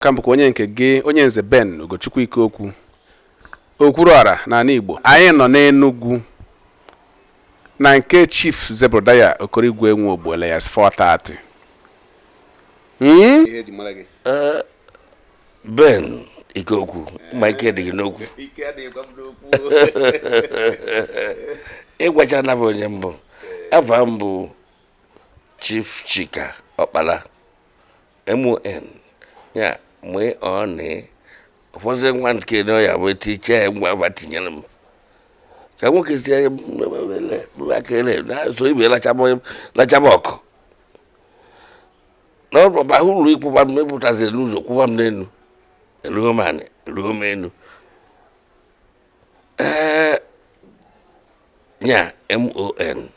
ka m bụkwa onye nke gị onye nze Ben Ugochukwu Ikeokwu okwuru ọra n'ala Igbo anyị nọ n'Enugwu na nke Chief Zebrudaya Okoroigwe Nwogbo alias 430 hmm? eh, Ben ike okwu ma ike dị gị n'okwu ị gwachana fa onye m bụ afa m bụ Chief Chika Ọkpala MON ya mgbe ọ na ụfọdụ nwa nke na ọya bụ etu iche ya ngwa va tinyere m ka nwoke si akele na-eso ibe lachaba ọkụ na ọba ụlọ ịkwụba m mepụtaziri n'ụzọ kwụba m n'elu eruo m anị eruo m enu ee nya mon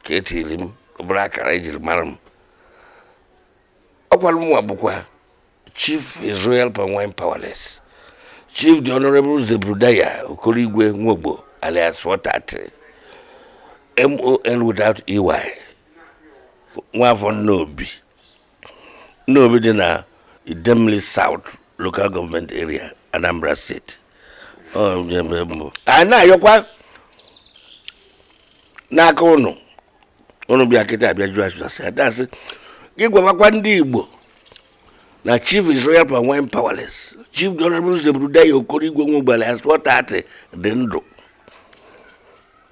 ka e tiri m ọ bụrụ akara e jiri mara m ọkwara mụnwa bụkwa chief his royal palm wine powerless chief the honorable zebrudaya okoroigwe nwogbo alias 430 mon without ey nwafọ nnobi Nnobi dị na Idemili South Local Government Area Anambra State anyị na-ayọkwa na ka ụnụ ụnụ bịa kịta abịa jụọ ase adasị gị gwawakwa ndị Igbo na chief his royal palm wine powerless chief the honorable Zebrudaya Okoroigwe Nwogbo alias 430 dị ndụ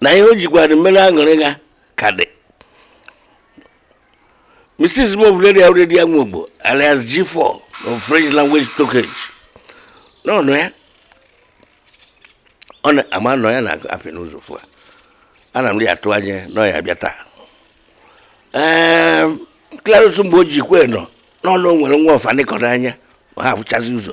na ihe o jikwara mere aṅụrị ya ka dị Mrs. Ovuleria Uredia Nwogbo, alias G4 of French language talkage nọnụ ya. Ọ na-ama nọ ya na-apụ n'ụzọ fụ ya. Ana m dị atụ anya na ọ ya-abịa taa. Ee, Clarus Mgbeojikwe nọ n'ụnọ nwere nwa ọfa nịkọrọ anya ma ha ahụchazi ụzọ.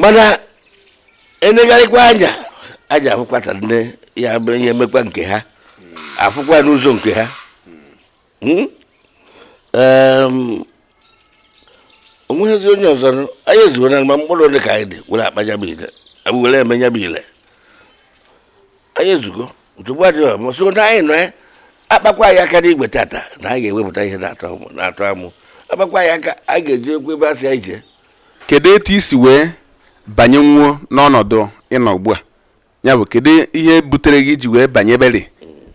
mana enegharịkwa anya aja afụkwata nne ya bụ ihe emekwa nke ha afụkwa n'ụzọ nke ha hmm? onweghịzi onye ọzọ anyị ezuo na ma mkpụrụ ole ka anyị dị were akpa ya bụ ile were eme ya bụ ile anyị ezugo nsogbu adịghị ọ bụ sọ na anyị nọ ya akpakwa anyị aka n'igwe tata na anyị ga-ewepụta ihe na-atọ amụ akpakwa anyị aka anyị ga-ejekwa ebe a sị anyị jee kedu etu i si wee banyenwuo n'ọnọdụ ị nọ ugbu a ya bụ kedu ihe butere gị iji wee banye beri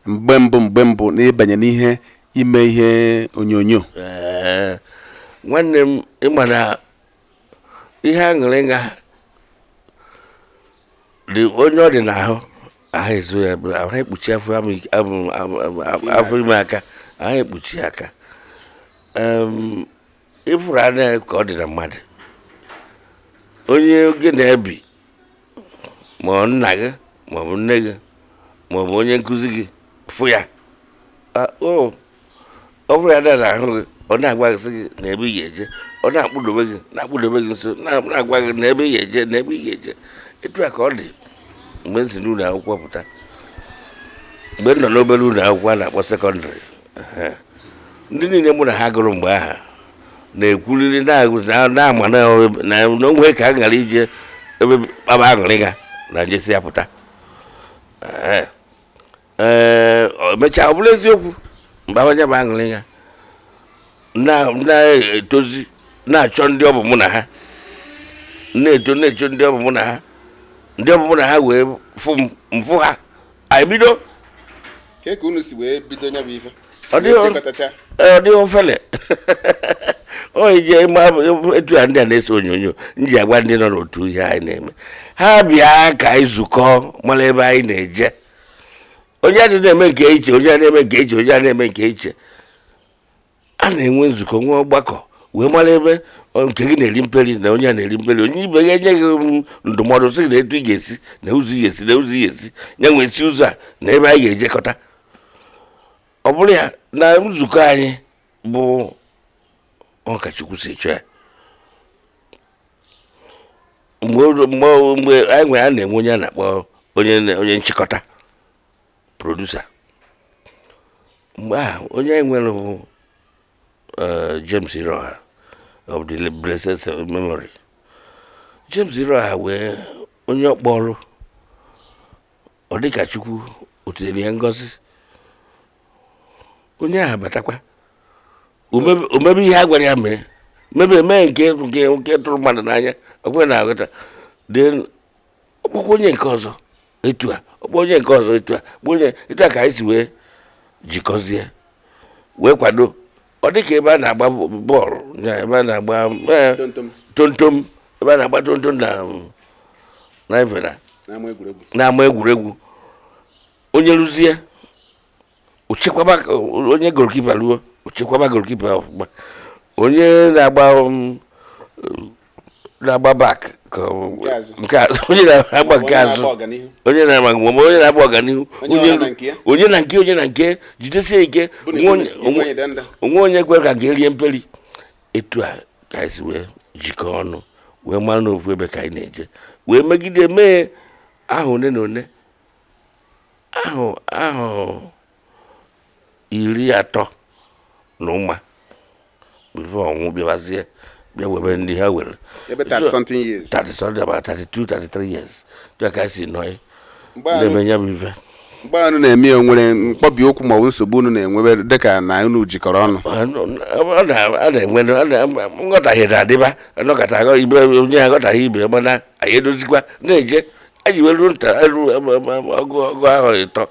mgbe mbụ mgbe mbụ na ịbanye n'ihe ime ihe onyonyo nwanne m ị ma na ihe aṅụrị nga dị onye ọ dị n'ahụ ahụ ezo ya ahụ ekpuchi afọ ime aka ahụ ekpuchi aka ị fụrụ nya ka ọ dị na mmadụ onye gị na ya bi ma ọ nna gị ma ọ bụ nne gị ma ọ bụ onye nkụzi gị fụ ya ọ fụrụ ya n'ahụ gị ọ na-agwa gị sị gị nee ebe ị ga-eje ọ na-akpụdobe gị na-akpụdobe gị nso na-agwa gị nee ebe ị ga-eje nee ebe ị ga-eje etu a ka ọ dị mgbe m si n'ụlọ akwụkwọ pụta mgbe m nọ n'obere ụlọ akwụkwọ a na-akpọ secondary ndị niile mụ na ha gụrụ mgbe a ha na-ekwuriri na a ma na o nwe ka a ghara ije ebe kpaba aṅụrị ga na m jesi ya pụta emechaa ọ bụrụ eziokwu mgbe abanya bụ aṅụrị ga na-etozi na-achọ ndị ọ bụ mụ na ha na-eto na-achọ ndị ọ bụ mụ na ha ndị ọ bụ mụ na ha wee fụ ha anyị bido ka ka unu si wee bido nya bụ ife ọ dịghị ofele onye ji ịma etu ya ndị a na-ese onyonyo m ji agwa ndị nọ n'otu ihe anyị na-eme ha bịa ka anyị zukọ mara ebe anyị na-eje onye adị na-eme nke iche onye na-eme nke iche onye na-eme nke iche a na-enwe nzukọ nwee ọgbakọ wee mara ebe nke gị na-eri mperi na onye a na-eri mperi onye ibe ya enye gị um, ndụmọdụ sị nee etu ị ga-esi nee ụzọ ị ga-esi nee ụzọ ị ga-esi ya wee si ụzọ a nee ebe anyị ga-ejekọta ọ bụrụ ya na nzukọ anyị bụ ọ ka Chukwu si chọọ ya mgbe anyị nwere a na-enwe onye a na-akpọ onye nchịkọta producer mgbe ahụ onye anyị nwere bụ eh, James Iroha of the blessed memory James Iroha nwee onye ọ kpọrụ ọ dịka Chukwu o tinyere ya ngọzi onye ahụ batakwa o mebe ihe a gwara ya mee mebe mee nke nke tụrụ mmadụ n'anya ọkwa ị na-aghọta ọ kpọkwa onye nke ọzọ etu a ọ kpọọ onye nke ọzọ etu a kpọ onye etu a ka anyị si wee jikọzie wee kwado ọ dị ka ebe a na-agba bọọlụ ebe a na-agba eh, tontom ebe a na-agba tontom na na n'ama egwuregwu onye rụzie ochekwaba onye goalkeeper rụọ ochekwaba goalkeeper ọfụma onye na-agba um, na-agba back nke azụ onye na-agba nke azụ onye na-agba nke ọma onye na-agba ọganihu onye na nke onye na nke jidesie ike o nwe onye kwere ka nke rie mperi etu a ka anyị si wee jikọọ ọnụ wee mara n'ofu ebe ka anyị na-eje wee megide mee ahọ one na one ahọ ahọ iri atọ na ụma before ọnwụ bịabazie bịa webe ndị ha were ebe 30 something years 30 something about 32 33 years dịka ka si nọ na-eme ya bụ ife mgbe unu na-eme ya e nwere mkpọbi okwu ma ọ bụ nsogbu unu na-enwebe dịka na unu jikọrọ ọnụ a na-enwe nghọtahie na-adịba anọkọta ibe onye aghọtaghị ibe mana anyị edozikwa na-eje anyị wee ruo nta elu ọgụ ọgụ ahọ ịtọ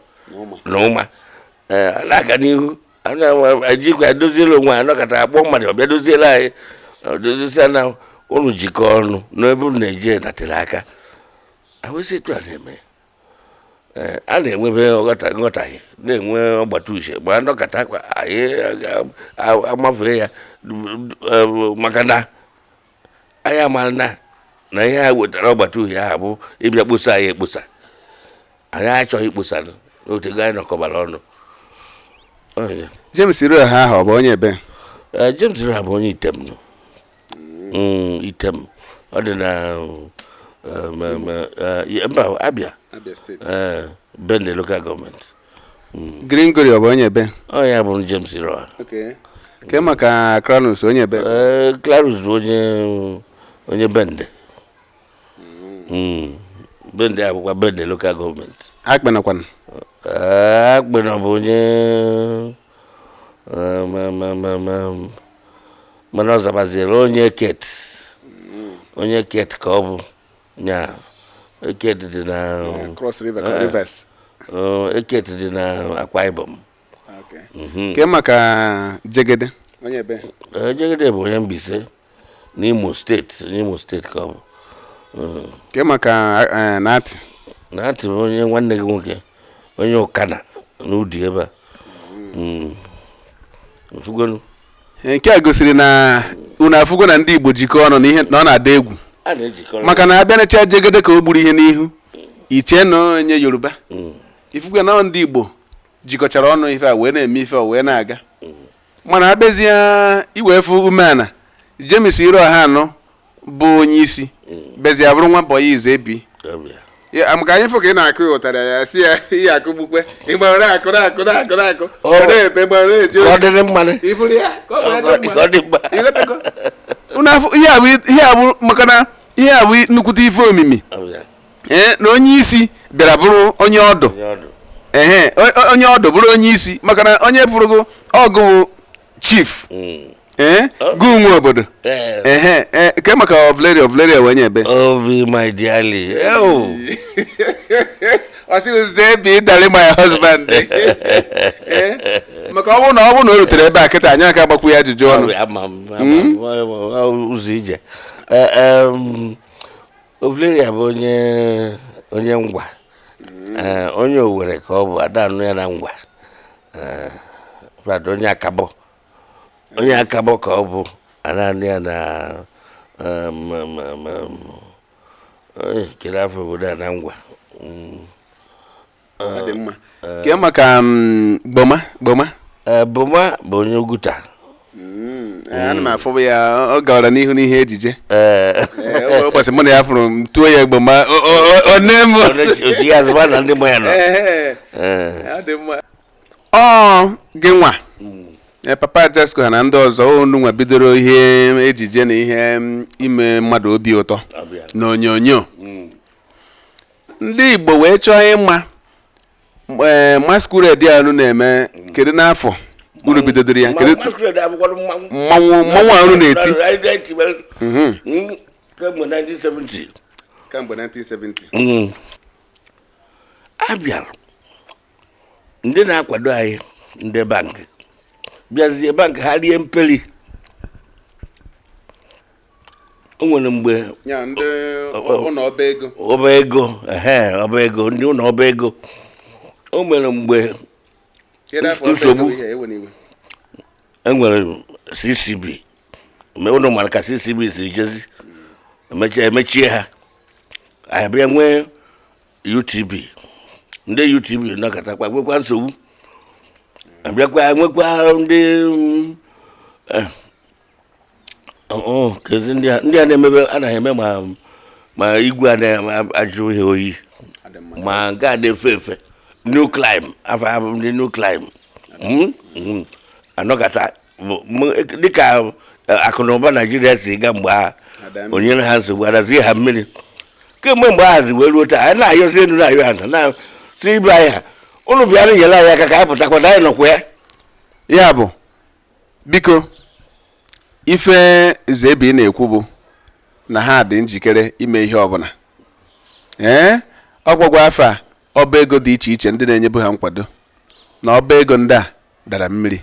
na ụma ee a na-aga n'ihu a na-enwe ejikwa edoziela onwe anyị nọkọta a kpọọ mmadụ ọ bịa doziela anyị ọ dozisia na unu jikọọ ọnụ n'ebe unu na-eje natịrị aka awụsị etu a na-eme ee a na-enwebe nghọta nghọtahie na-enwe ọgbata uche ma nọkọta kwa anyị aga- a- amafee ya eh, maka na anyị amara na na ihe a wetara ọgbata uhie ahụ bụ ịbịa kposa anyị ekposa anyị achọghị ikposa na o teego anyị nọkọbara ọnụ James Iroha ahụ ọ bụ onye ebe eh, James Iroha bụ onye Item mm, Item ọ dị na eh, eh, mba Abia Bende local government hmm. Gringori ọ bụ onye ebe ọ ya bụ James Iroha ke maka Clarus onye ebe eh, Clarus bụ onye onye Bende hmm. Hmm. Bende abụkwa Bende local government Akpena kwanụ eh, Akpena bụ onye eh, mana ọ zabaziere onye Eket onye Eket ka ọ bụ Yeah. Eket dị na Yeah, Cross River ka Eh, eh. Rivers. Uh, Eket dị na Akwa Ibom. Okay. Mhm. Ke maka Jegede. Onye ebe? Eh, Jegede bụ onye Mbaise n'Imo steeti n'Imo steeti ka ọ bụ. Mm. Ke maka eh, Nati. Nati bụ onye nwanne gị nwoke onye Ụkana n'Udi ebe a Mm. Ị fụgonu. nke a gosiri na unu afụgo na ndị Igbo jikọọ ọnụ na ihe na ọ na-ada egwu maka na a bịa necha Jegede ka o gburu ihe n'ihu i chee na onye Yoruba mm. ị fụgo na ndị Igbo jikọchara ọnụ ife a wee na-eme ife a wee na-aga mm. mana a bịazie iwefụ umeala James Iroha na ọ bụ onye isi bịazịa bụrụ nwa bọyị Zebi maka anyị fụ ka ị na-akụ ya ụtara ya si ya ihe akụ gbukwe ịgbara akụ na akụ na akụ na akụ na-epe gbara na-eji ọdịrị mmanụ iburu ya ka ọ dị mma ihe a bụ maka na ihe a bụ nnukwute ife omimi ee na onye isi bịara bụrụ onye ọdụ ee onye ọdụ bụrụ onye isi maka na onye fụrụgo ọgụ chief Mm. ee gị nwe obodo Eh, ehe ee, kee maka Ovularia Ovularia wee nye ebe Ovi my dearly. Oh. ọ sị Zebi darling my husband Ee, maka ọ bụrụ na ọ bụrụ na o rutere ebe a kịta anyị aka agbakwu ya ajụjụ ọnụ Ama m, ama m, ama m, ụzọ ije. Eh, em, Ovularia bụ onye onye Ngwa mm. eh, onye Owere ka ọ bụ a da-anụ ya na Ngwa eh, fada onye Akabọ onye Akabọ ka ọ bụ a da-anụ ya na eh, kee afa obodo a na Ngwa mm. ọ dị mma kee maka mm, Boma Boma Ee, Boma bụ onye Oguta Mm, eh, ana m afụbu ya ọ gara n'ihu n'ihe ejije Ee, Eh, o nwere ụbọchị mụ na ya fụrụ m tuo ya Boma o- o- o- o nne m onye- otu ya azụba na ndị mụ ya nọ Ehe, Ee, ọ dị mma. ọ gị nwa Eh, Papa Jesco ha na ndị ọzọ unu nwa bidoro ihe ejije na ihe mm, ime mmadụ obi ụtọ ọbịa. n'onyonyo Mm. ndị Igbo wee chọọ ịma ee eh, masquerade a unu na-eme kedu n'afọ unu bidodoro ya kedu mmanwụ mmanwụ a unu na-eti mhm. mm, kemgbe 1970 kemgbe 1970 mm. a bịara ndị na-akwado anyị ndị bank bịazie bank ha rie mperi o nwere mgbe ọba ego ọba ego ndị ụlọ ọba ego o nwere mgbe nsogbu e nwere CCB unu mara ka CCB si jezi e mechie ha a bịa nwee UTB ndị UTB nọkatakwa nwekwa nsogbu a bịakwa nwekwa ndị mm, eh, keezi ndị a na-emebe anaghị eme ma ma igwe na-ajụ ihe oyi ma nke a na-efe efe Newclime afa ha bụ ndị Newclime hmm? Hmm. a nọkata dịka e, akụ na ụba Naijiria si ga mgbe ahụ o nyere ha nsogbu adazie ha mmiri kemgbe mgbe ahụ zi wee ruo taa anyị na-ayọzi elu na-ayọ ana sị ibe anyị ha unu bịara nyere anyị aka ka anyị pụtakwa na anyị nọkwa ya ya bụ biko ife Zebi na-ekwu bụ na ha dị njikere ime ihe ọbụla ee ọ gụọkwa afa ọba ego dị iche iche ndị na-enyebu ha nkwado na ọba ego ndị a dara mmiri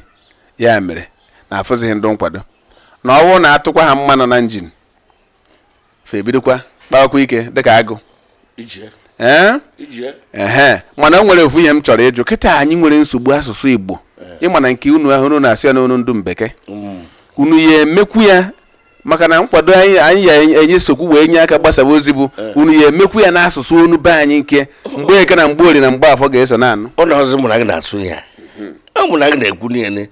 ya mere na afụzighị ndị nkwado na ọ wụ na-atụkwa ha mmanụ na njin fa ebidokwa kpawakwa ike dịka agụ ee mana o nwere ofu ihe m chọrọ ịjụ kịta anyị nwere nsogbu asụsụ Igbo ị ma na nke unu ahụ unu na-asụ ya n'onu ndị mbeke mm. unu ya-emekwu ya maka na nkwado anyị anyị ya-esokwu wee nye aka gbasaba ozi bụ eh. unu ya-emekwu ya n'asụsụ onu be anyị nke Mgbeke na Mgborie na Mgbafọ ga-eso na-anụ ụlọ ọzọ mụ na gị na-asụ ya ọ mụ na gị na-ekwu niile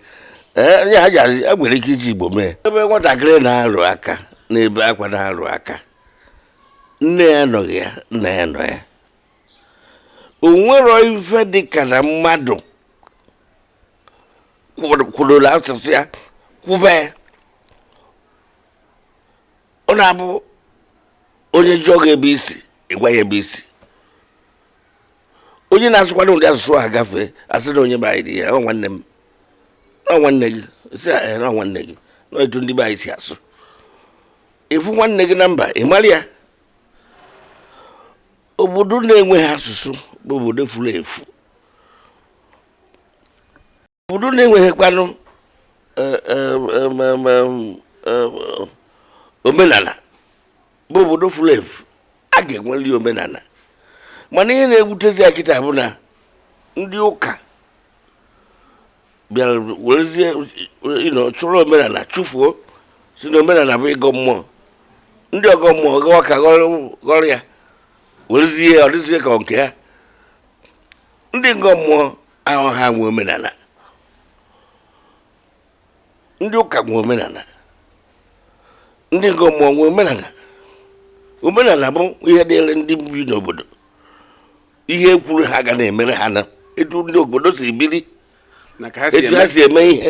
ee ya ji azụ ya nwere ike iji igbo mee ebe nwatakịrị na-arụ aka na-ebe akwa na-arụ aka nne ya anọghị ya nna ya nọ ya o nwero ife dị ka na mmadụ kwụrụ- kwụrụla asụsụ ya kwube ya ọ na-abụ onye jụọ gị ebe i si ị gwa ya ebe i si onye na-asụkwado ụdị asụsụ a gafee a sị na onye be anyị dị ya ọ nwanne m ọ nwanne gị si ya ee na ọ nwanne gị na etu ndị be anyị si asụ ị fụ nwanne gị na mba ị mara ya obodo na-enweghị asụsụ bụ obodo furu efu obodo na-enweghịkwanụ e, e, e, omenala bụ obodo furu efu a ga-enweli omenala mana ihe na-ebutezi ya kịta bụ na ndị ụka bịara werezie chụrụ omenala chụfuo si na omenala bụ ịgọ mmụọ ndị ọgọ mmụọ gawa ka ghọrọ ya werezie ọ dịzie ka nke ha ndị ọgọ mmụọ ahụ ha nwe omenala ndị ụka nwe omenala ndị ọgọ mmụọ nwe omenala omenala bụ ihe dịrị ndị bi n'obodo ihe e kwuru ha ga na-emere ha na etu ndị obodo si biri etu ha si eme ihe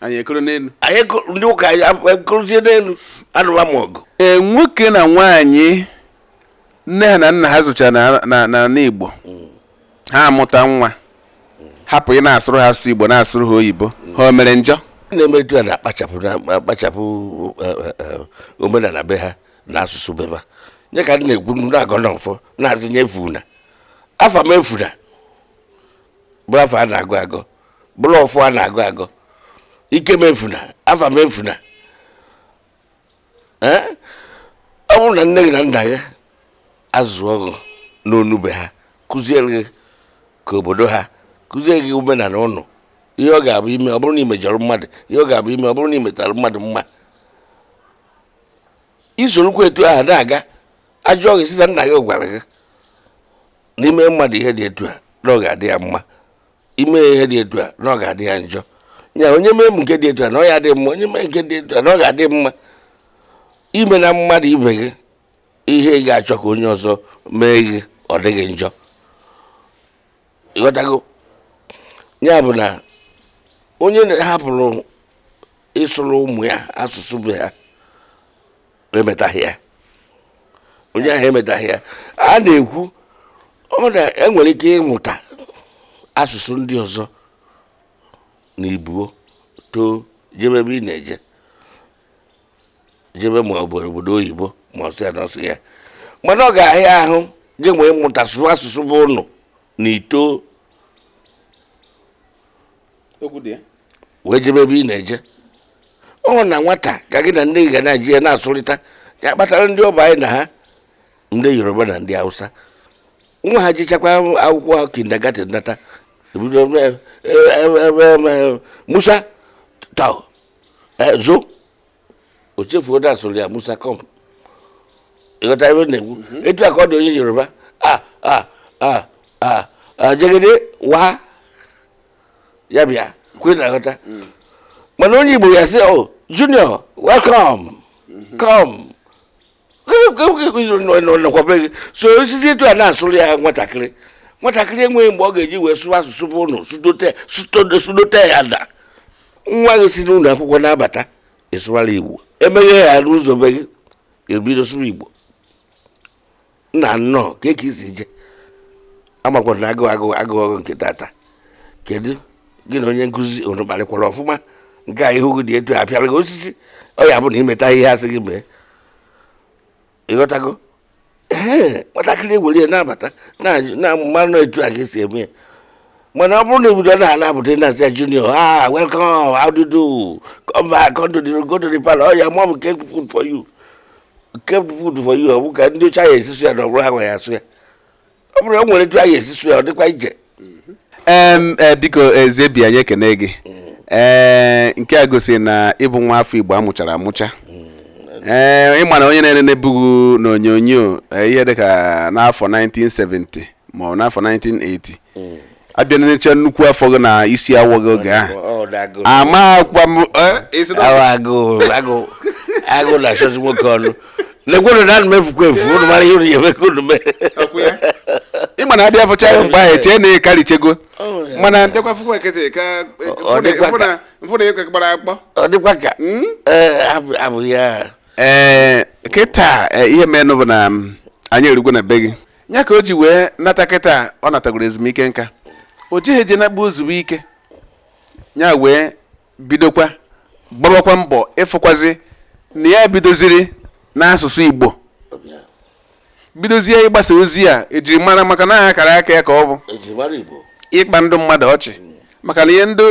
anyị ekoro n'elu anyị kụrụ- ndị ụka anyị ab- ekorozie n'elu anụla m ọgụ ee nwoke na nwaanyị nne ha na nna ha zụchara na- na n'ala igbo ha amụta nwa hapụ ịna-asụrụ ha asụsụ igbo na-asụrụ ha oyibo ha o mere njọ ndị na-eme etu a na-akpachapụ na- akpachapụ eh, eh, eh, omenala be ha na asụsụ be ha nye ka ndị na-ekwu ndị na-agọ n'ọfọ na-asị ya efuna afa m efuna bụ afa a na-agụ agụ bụrụ ọfọ a na-agọ agọ ike m efuna afa m efuna ee ọ bụrụ na nne gị na nna gị azụọ gị n'onu be ha kụziere gị nke obodo ha kụziere gị omenala ụnụ ihe ọ ga-abụ i mee ọ bụrụ na i mejọrọ mmadụ ihe ọ ga-abụ i mee ọ bụrụ na i metara mmadụ mma i sorokwa etu ahụ na-aga a jụọ gị ị sị na nna gị gwara gị na i mee mmadụ ihe dị etu a na ọ ga-adị ya mma ime ihe dị etu a na ọ ga-adị ya njọ ya onye mee m nke dị etu a na ọ ya-adị mma onye mee nke dị etu a na ọ ga-adị mma i meena mmadụ ibe gị ihe ị ga-achọ ka onye ọzọ mee gị ọ dịghị njọ ịghọtago ya bụ na onye hapụrụ ịsụrụ ụmụ ya asụsụ be ha emetaghị ya onye ahụ emetaghị ya a na-ekwu ọ na e nwere ike ịmụta asụsụ ndị ọzọ na i buo too jebe ebe ị na-eje jebe ma ọ bụ obodo oyibo ma ọsụ ya n'ọsụ ya mana ọ ga-ahịa ahụ ị ji wee mụta asụsụ be ụnụ na i too wee jebe ebe ị na-eje ọ na nwata ka gị na nne gị ga na-eji ya na-asụrịta ya kpatara ndị ọ bụ anyị na ha ndị yoruba na ndị hausa nwa ha jechakwaa akwụkwọ ahụ kindergarten nata ebido eh, eh, eh, musa to zo o chefuo da-asụrụ ya musa come ịghọta ebe m na-ekwu mhm. etu a ka ọ dị onye yoruba a a a a jegede wa ya bịa kwa ị na-aghọta mm. mana onye igbo ya sị oh junior welcome mm-hmm. come nọkwabe gị so i sizi etu a na-asụrụ ya nwatakịrị nwatakịrị enweghị mgbe ọ ga-eji wee sụwa asụsụ be ụnụ sudote ya da nwa gị si n'ụlọ akwụkwọ na-abata ị sụwara igbo emeghe ya n'ụzọ be gị ebido sụwa igbo nna nnọọ kee ka i si je amakwara m na agụụ agụ agụọ gị nke tata kedu gị na onye nkụzi unu kparịkwara ọfụma nke a ihu gị dị etu a a pịara gị osisi ọ ya bụ na i meta ihe a sị gị mee ịghọtago ee nwatakịrị ewere ya na-abata na-amara na etu a ka e si eme ya mana ọ bụrụ na e bido na anapụta na-asị ya junior ah welcome how do you do come back come to the go to the parlor oh your mom kept food for you kept food for you ọ bụ ka ndị ọcha ahụ esi asụ ya na ọ bụrụ ha nwe ya asụ ya ọ bụrụ na o nwere etu ha si asụ ya ọ dịkwa iche em e, biko zebi anyị ekene gị ee nke a gosiri na ị bụ nwa afọ igbo a mụchara amụcha ee ị ma na onye na-enenebu gị n'onyonyo eh, ihe dịka n'afọ 1970 ma ọ n'afọ 1980 mm. a bịa necha nnukwu afọ gị na isi awọ gị oge ahụ amakwa m agụ na-achọzi nwoke ọnụ lekwenu na anụ m efukwa efu ụnụ mara ihe ụnụ ya-eme ka ụnụ mee ị ma na a bịa fụcha ya mgbe ahụ e chee na ị karịchago oh, mana bịakwa fụkwa kịta ka m fụ na ị ka gbara akpọ ọ dịkwa ka hmm? eh, abụ ya ee eh, kịta eh, ihe menụ bụ na mm, anyị erugwo na be gị ya ka o ji wee nata kịta ọ natagoro ezumike nka o jighị eje nakpu ozugbo ike ya wee bidokwa gbawakwa mbọ ịfụkwazi na ya bidoziri n'asụsụ Igbo bidozie ịgbasa ozi a ejiri mara maka na akara aka ya ka ọ bụ ịkpa ndị mmadụ ọchị maka na ihe ndị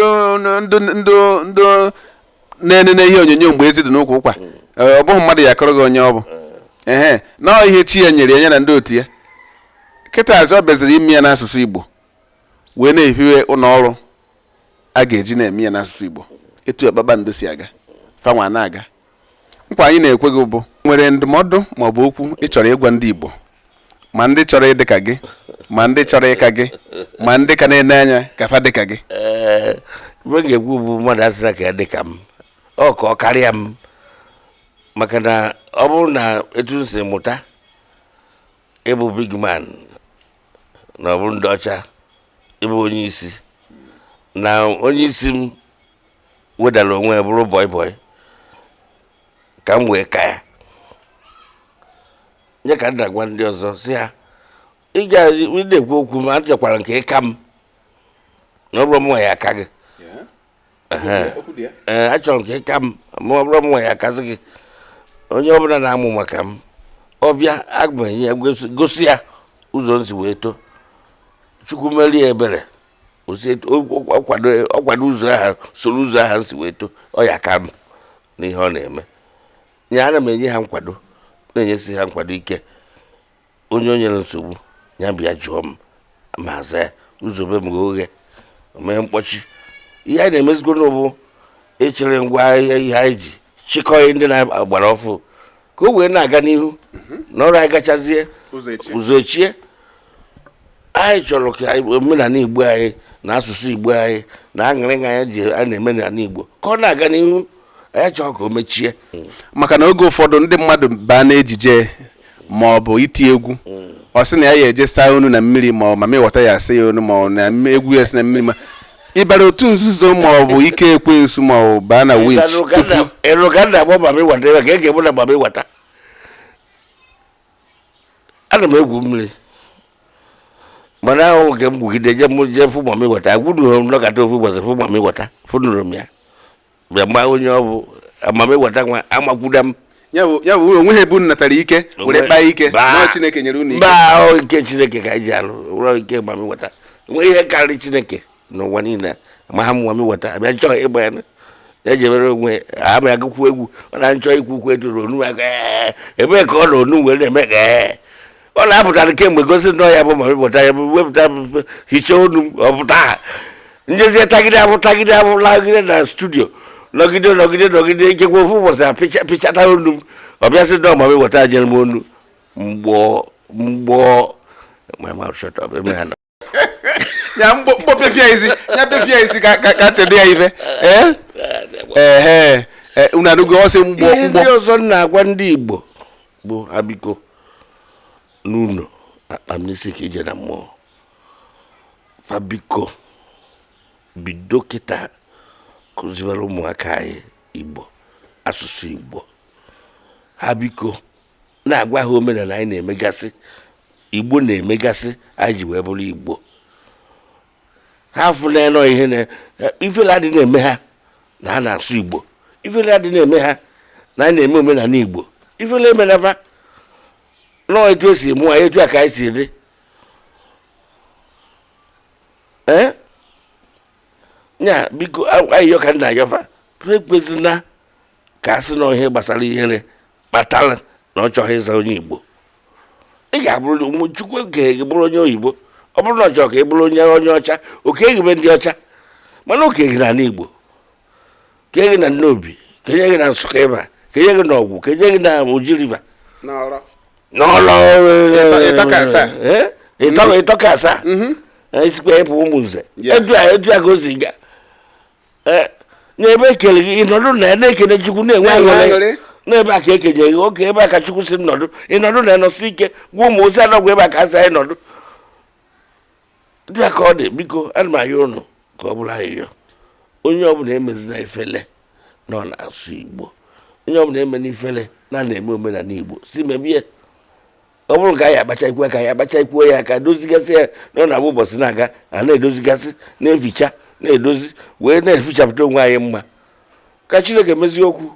na-enene ihe onyonyo mgbe ezi dị n'ukwu ụkwa hmm. eh, ọ bụghị mmadụ ya akọrọ gị onye ọ bụ eh. ehe na ihe chi ya nyere ya na ndị otu ya kịtazi ọ bịaziri ime ya n'asụsụ Igbo wee na-ehiwe ụlọ ọrụ a ga-eji na-eme ya n'asụsụ Igbo etu ya kpakpando si aga fa nwa na-aga nkwa anyị na-ekwe gị bụ nwere ndụmọdụ maọbụ okwu ị chọrọ ịgwa ndị Igbo ma ndị chọrọ ịdị ka gị ma ndị chọrọ ịka gị ma ndị ka na-ene anya ka fa dị ka gị ee ife m ga-ekwu bụ mmadụ asịra ka ya dị ka m ọ ka ọ karịa m maka na ọ bụrụ na etu m si mụta ịbụ big man na ọ bụrụ ndị ọcha ịbụ onye isi na onye isi m wedara onwe ya bụrụ bọị bọị ka m wee ka ya ya ka m na-agwa ndị ọzọ sị ha ị na-ekwu okwu ma achọkwara m ka ị ka m na ọ bụrọ mụnwa ya aka gị ee achọrọ m ka ị ka m ma ọ bụrọ mụnwa ya akazi gị onye ọbụla na-amụ maka m ọ bịa be anyị e gosi ya ụzọ m si wee too chukwu mere ya ebere ọ kwado ụzọ ahụ soro ụzọ ahụ m si wee too ọ ya aka m n'ihe ọ na-eme ya ana m enye ha nkwado na-enyesi ha nkwado ike onye o nyere nsogbu ya bịa jụọ m m aza ya ụzọ be m ghe oghe o nweghị mkpọchi ihe anyị na-emezigoro nụ bụ ịchịrị ngwa ahịa ihe anyị ji chịkọọ ihe ndị na-agbara ọfụụ ka o wee na-aga n'ihu na ọ bụrọ anyị gachazie ụzọ echie anyị chọrọ ka omenala igbo anyị na asụsụ igbo anyị na aṅụrị anyị ji a na-eme n'ala igbo ka ọ na-aga n'ihu anyị achọrọ ka o mechie maka na oge ụfọdụ ndị mmadụ baa n'ejije ma ọ bụ iti egwu ọ sị na ya ya eje saa onu na mmiri ma ọ mami wata ya asa ya onu ma ọ na mme- egwu ya si na mmiri ma ịbara otu nzuzo ma ọ bụ ike ekwensu ma ọ baa na winch tupu ịrụ ka nna gbọ mami wata ebe ka e ga-egbu na mami wata ana m egwu mmiri mana ahụ nke m gwugide je m jee fụ mami wata agwụdughị m nọkata ofu ụbọchị fụ mami wata fụnụrụ m ya bịa mgba onye ọ bụ mami wata nwa amakwuda m ya bụ ya bụ unu onweghị ebe unu natara ike were kpaa ike mba na ọ chineke nyere unu ike mba ọ bụ ike chineke ka anyị ji alụ ọ bụrọ ike mami wata nwee ihe karịrị chineke n'ụwa niile ma ha mụwa m weta abịa chọọ ịgba ya ya jebere onwe ama ya gụkwu egwu ọ na -achọ ikwu okwu eduru ọnụ ya "Ee, ebee ka ọ na ọnụ were na-eme ka ee ọ na-apụtara kemgbe gosi nnọọ ya bụ ma wepụta ya bụ wepụta bụ- hichaa ọnụ m, ọ pụta ha njezie tagide abụ tagide abụ lagide na studio nọgide nọgide nọgide ikekwe ofu ụbọchị a pịcha- pịchata ọnụ m ọ bịasị nnọọ ma wepụta nyere m ọnụ mgbọ mgbọ my mouth shut up. Amen. ya mkpọ pịapịa isi ya pịapịa isi ka ka ka tede ya ife ee ehe e, unu anụgo ọsị mgbọ ihe ndị mgbọ ọzọ m na-agwa ndị igbo bụ ha biko n'ụlọ akpa m n'isi ka ije na mmụọ fa biko bido kịta kụziwere ụmụaka anyị igbo asụsụ igbo ha biko na-agwa ha omenala anyị na-emegasị igbo na-emegasị anyị ji wee bụrụ igbo ha afụna ihe na ifele adịna eme ha na ha na-asụ igbo ifele adịna eme ha na anyị na-eme omenala igbo ifele emena fa nọọ etu e si mụ anyị etu a ka anyị si dị ee nya biko ayịyọ ka m na-ayọ fa ekwezina ka a sị na ihe gbasara ihere kpatara na ọ chọghị ịza onye igbo ị ga-abụrụ ụmụ chukwu ekeghị gị bụrụ onye oyibo ọ bụrụ na ọ chọrọ ka ị bụrụ onye onye ọcha o kee gị be ndị ọcha mana o kere gị na igbo kee gị na nnobi kenye gị na nsụka ịba kenye gị na ọgwụ kenye gị na oji river n'ọlọ ịtọka asaa eh? ịtọka asaa mm-hmm. eh, isikwa ịpụ ụmụnze edu a ka o si ga eh, n'ebe e kele gị ị nọdụ na ya na-ekele chukwu na-enwe aṅụrị n'ebe a ka e kenye gị oke ebe a ka chukwu sị nọdụ ị nọdụ na-anọsi ike gwa ụmụ ozi anọgwụ ebe a ka a sị anyị nọdụ dị ka ọ dị biko ana m ayọ ụnụ ka ọ bụrụ ayịyọ onye ọbụla emezina ifele na ọ na-asụ igbo onye ọbụla emena ifele na ọ na-eme omenala igbo si mebie ọ bụrụ ka anyị akpachakwuo ka anyị akpachakwuo ya ka dozigasị ya na ọ na-abụ ụbọchị na-aga a na-edozigasị na-eficha na-edozi wee na-efichapụta onwe anyị mma ka chineke mezie okwu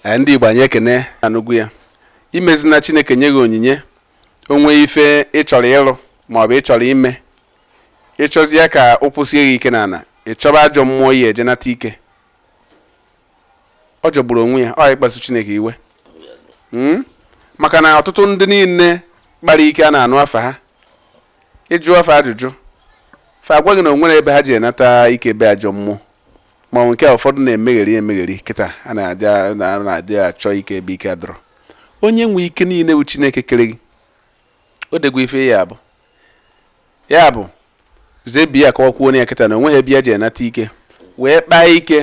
eh, ndị igbo anyị ekene anụgwu ya emezina chineke nye gị onyinye o nwee ife ị chọrọ ịrụ maọbụ ị chọrọ ime ị chọzie ka ọ kwụsie gị ike n'ala ị chọba ajọ mmụọ ya eje nata ike ọ jọgburu onwe ya ọ ịkpasu chineke iwe hmm? maka na ọtụtụ ndị niile kpara ike a na-anụ afa ha ị jụọ fa ajụjụ fa agwa gị na o nwere ebe ha je nata ike be ajọ mmụọ ma ọ nke ụfọdụ na-emegheri emegheri kịta a na-adị achọ ike ebe ike adọrọ onye nwe ike niile bụ chineke kere gị ọ dị egwu ife ya bụ ya bụ zebi ya ka ọ kwuo ya kịta na onweghị ebe ya ji enata ike wee kpaa ike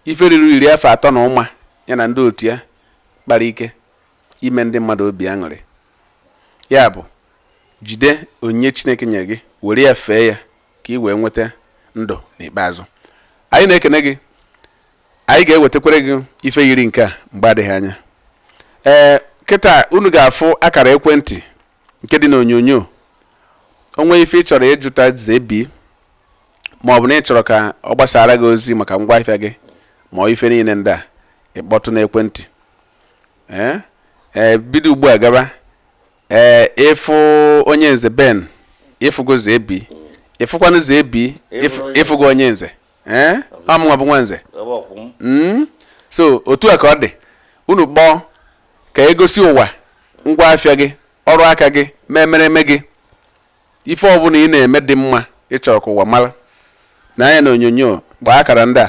ife riri iri afọ atọ na ụma ya na ndị otu ya kpara ike ime ndị mmadụ obi aṅụrị ya bụ jide onyinye chineke nyere gị were ya fee ya ka ị wee nweta ndụ n'ikpeazụ anyị na-ekene gị anyị ga-ewetakwere gị ife yiri nke a mgbe adịghị anya ee kịta unu ga-afụ akara ekwentị nke dị n'onyonyo o nwee ife ị chọrọ ịjụta zebi ma ọ bụ na ị chọrọ ka ọ gbasaara gị ozi maka ngwa ahịa gị ma ọ ife niile ndị a ị kpọtụ n'ekwentị ee ee bido ugbu a gaba ee ị fụ onye nze ben ị fụgo zebi ị fụkwanụ zebi ị fụgo onye nze ee ọ mụnwa bụ nwa nze hmm? so otu a ka ọ dị unu kpọọ ka e gosi ụwa ngwa afịa gị ọrụ aka gị memereme gị ife ọbụla ị na-eme dị mma ị chọrọ ka ụwa mara nee anya na onyonyo gbaa akara ndị a